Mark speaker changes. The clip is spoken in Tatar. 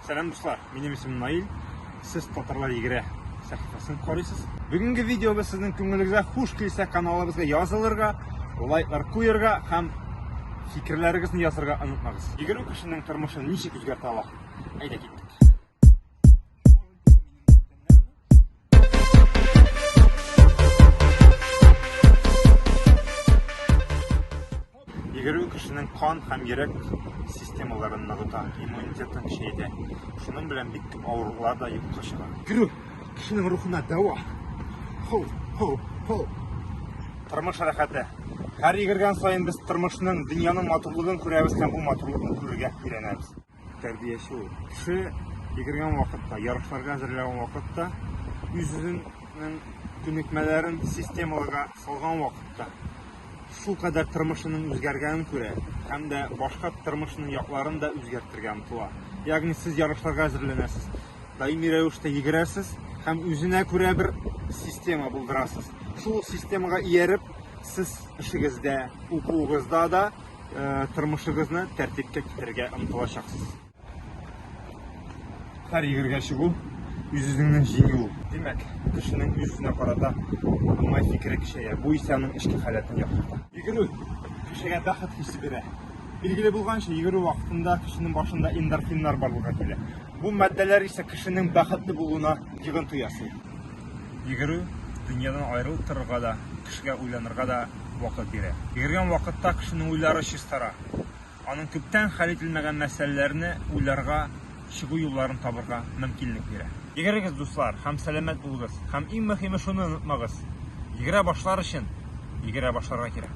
Speaker 1: Сәлам дуслар, минем исемем Наил. Сез татарлар егерә сәхифәсен карыйсыз. Бүгенге видеода сезнең күңелегезгә хуш килсә каналыбызга язылырга, лайклар куярга һәм фикерләрегезне язарга онытмагыз. Егеру кешенең тормышын ничек үзгәртә ала? Әйдә киттек. Йөгерү кешенең кан һәм йөрәк системаларын ныгыта, иммунитетын көчәйтә. Шуның белән бик күп авырулар да юкка чыга. Йөгерү кешенең рухына дәва. Ху, ху, ху. Тормыш рәхәте. Һәр йөгергән саен без тормышның, дөньяның матурлыгын күрәбез һәм бу матурлыкны күрергә өйрәнәбез. Тәрбияче ул. Кеше йөгергән вакытта, ярышларга әзерләгән вакытта, үзенең күнекмәләрен системаларга салган вакытта, шул кадәр тормышының үзгәргәнен күрә һәм дә башка тормышының якларын да үзгәртергә омтыла. Ягъни сез ярышларга әзерләнәсез, даими рәвештә йөгерәсез һәм үзенә күрә бер система булдырасыз. Шул системага ияреп, сез эшегездә, укуыгызда да тормышыгызны тәртипкә китерергә омтылачаксыз. Һәр егергә чыгу үз-үзеңне җиңү. Димәк, кешенең үз-үзенә карата уңай фикере көчәя. Бу исә аның эчке халәтен яхшырта. Йөгерү кешегә бәхет хисе бирә. Билгеле булганча, йөгерү вакытында кешенең башында эндорфиннар барлыкка килә. Бу матдәләр исә кешенең бәхетле булуына йогынты ясый. Йөгерү, дөньядан аерылып торырга да, кешегә уйланырга да вакыт бирә. Йөгергән вакытта кешенең уйлары чистара. Аның күптән хәл ителмәгән мәсьәләләрне уйларга, чыгу юлларын табырга мөмкинлек бирә. Йөгерегез, дуслар, һәм сәламәт булыгыз. Һәм иң мөһиме шуны онытмагыз, йөгерә башлар өчен йөгерә башларга кирәк.